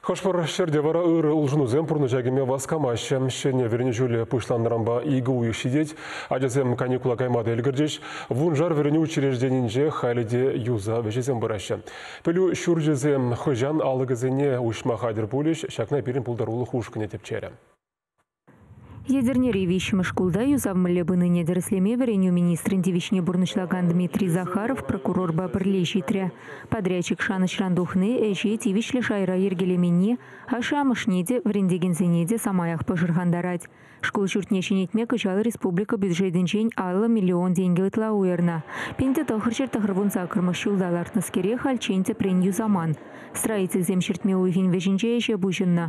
Хӑш-пӗр ҫӗрте вара ырӑ улшӑнусем пурнӑҫа кӗме васкамаҫҫӗ. Ҫӗнӗ вӗренӳ ҫулӗ пуҫланнӑранпа икӗ уйӑх ҫитет. Ачасем каникула кайма та ӗлкӗрчӗҫ. Вуншар вӗренӳ учрежденийӗнче халӗ те юсав ӗҫӗсем пыраҫҫӗ. Пӗлӳ ҫурчӗсем хӑҫан алӑкӗсене уҫма хатӗр пулӗҫ? Ҫакна пирӗн пултарулӑх ушкӑнӗ тӗпчерӗ. Етӗрнери виҫҫӗмӗш шкулта юсав мӗнле пынине тӗрӗслеме вӗренӳ министрӗн тивӗҫне пурнӑҫлакан Дмитрий Захаров прокурорпа пӗрле ҫитрӗ. Подрядчик шанӑҫран тухни, ӗҫе тивӗҫлӗ шайра йӗркелеменни ашшӗ-амӑшне те, вӗрентекенсене те самаях пӑшӑрхантарать. Шкул ҫуртне ҫӗнетме кӑҫал республика бюджетӗнчен аллӑ миллион тенкӗ ытла уйӑрнӑ. Пин те тӑхӑрҫӗр тӑхӑрвун саккӑрмӗш ҫулта лартнӑскере хальччен тӗпрен юсаман. Строительсем ҫӗртме уйӑхӗн вӗҫӗнче ӗҫе пуҫӑннӑ.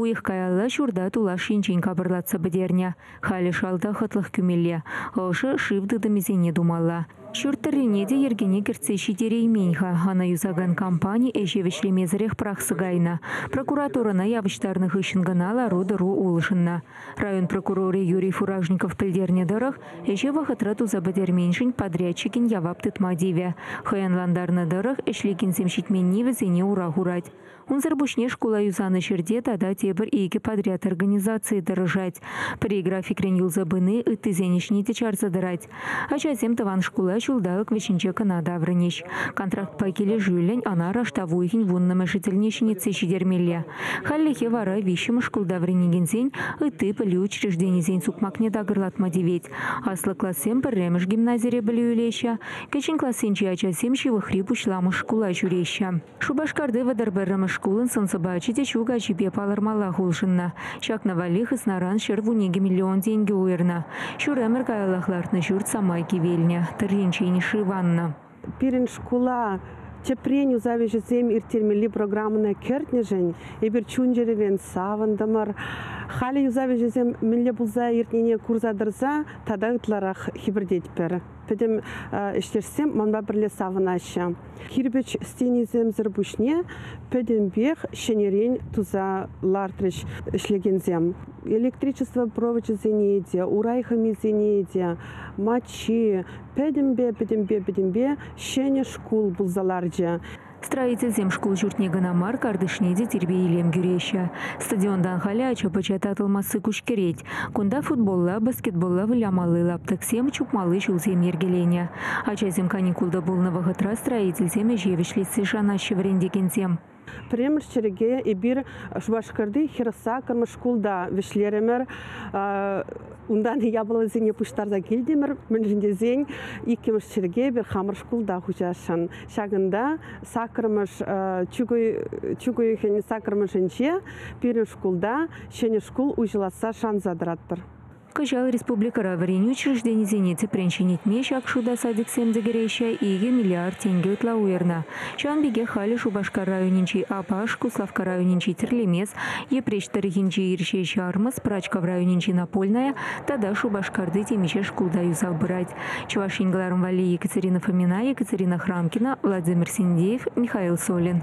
Уйӑх каялла ҫурта тулаш енчен капӑрлатса пӗтернӗ. Халӗ шалта хӑтлӑх кӳмелле, ӑшӑ шыв тытӑмӗсене тумалла. Ҫурт тӑррине те йӗркене кӗртсе ҫитереймен-ха. Ӑна юсакан компани ӗҫе вӗҫлемесӗрех пӑрахса кайнӑ. Прокуратурӑна явӑҫтарнӑ хыҫҫӑн кӑна лару-тӑру улшӑннӑ. Район прокурорӗ Юрий Фуражников пӗлтернӗ тӑрӑх, ӗҫе вӑхӑтра туса пӗтерменшӗн подрядчикӗн явап тытма тивӗ. Хӑянлантарнӑ тӑрӑх, ӗҫлекенсем ҫитменни вӗсене ура хурать. Унсӑр пуҫне шкула юсанӑ ҫӗрте тата тепӗр икӗ подряд организацийӗ тӑрӑшать. Пӗри графикрен юлса пыни ыттисен ӗҫне те чарса тӑрать. Ачасем тӑван шкула ҫулталӑк вӗҫӗнче кӑна таврӑнӗҫ. Контрактпа килӗшӳллӗн ӑна раштав уйӑхӗн вуннӑмӗшӗ тӗлне ҫӗнетсе ҫитермелле. Хальлӗхе вара виҫҫӗмӗш шкулта вӗренекенсен ытти пӗлӳ учрежденийӗсен сукмакне такӑрлатма тивет. Аслӑ классем пӗрремӗш гимназире пӗлӳ илеҫҫӗ, кӗҫӗн классенчи ачасем ҫывӑхри пуҫламӑш шкула ҫӳреҫҫӗ. Шупашкарти вӑтӑр пӗрремӗш шкулӑн сӑн-сӑпачӗ те ҫу каҫипе палӑрмаллах улшӑннӑ. Ҫакна валли хыснаран ҫӗр вун икӗ миллион тенкӗ уйӑрнӑ. Ҫур ӗмӗр каяллах лартнӑ ҫурт самай кивелнӗ, тӑрринчен шываннӑ. Пирӗн шкула тӗпрен усал ӗҫӗсем ирттермелли программӑна кӗртнӗшӗн эпир чун-чӗререн савӑнтӑмӑр. Халӗ юсав ӗҫӗсем мӗнле пулса иртнине курса тӑрса тата ытларах хӗпӗртетпӗр. пӗтӗм ӗҫтешсем манпа пӗрле савӑнаҫҫӗ. Кирпӗч стенисемсӗр пуҫне пӗтӗмпех ҫӗнӗрен туса лартрӗҫ ӗҫлекенсем. Электричество провочӗсене те, урай хӑмисене те, маччи, пӗтӗмпе-пӗтӗмпе-пӗтӗмпе ҫӗнӗ шкул пулса ларчӗ. Строительсем шкул ҫуртне кӑна мар, картишне те тирпей-илем кӳреҫҫӗ. Стадионтан халӗ ача-пӑча татӑлмасси куҫкӗрет. Кунта футболла, баскетболла вылямалли лаптӑксем, чупмалли ҫулсем йӗркеленӗ. Ачасем каникулта пулнӑ вӑхӑтра строительсем ӗҫе вӗҫлессе шанаҫҫӗ вӗрентекенсем. Пӗрремӗш чӗрӗке эпир Шупашкарти хӗр саккӑрмӗш шкулта вӗҫлерӗмӗр. Унтан япаласене пуҫтарса килтӗмӗр, мӗншӗн тесен иккӗмӗш чӗрӗке эпир хамӑр шкулта хуҫасшӑн. Ҫакӑнта саккӑрмӗш чӳк уйӑхӗн саккӑрмӗшӗнче пирӗн шкулта ҫӗнӗ шкул уҫӑласса шанса тӑратпӑр. Кӑҫал республикӑра вӗренӳ учрежденисене тӗпрен ҫӗнетме ҫак шута садиксем те кӗреҫҫӗ, икӗ миллиард тенкӗ ытла уйӑрнӑ. Ҫавӑн пекех халӗ Шупашкар районӗнчи Апаш, Куславкка районӗнчи Тӗрлемес, Йӗпреҫ тӑрӑхӗнчи Ирҫе Ҫармӑс, Пӑрачкав районӗнчи Напольная тата Шупашкарти темиҫе шкулта юсав пырать. Чӑваш Ен кӑларӑм валли Екатерина Фомина, Екатерина Храмкина, Владимир Синдеев, Михаил Солин.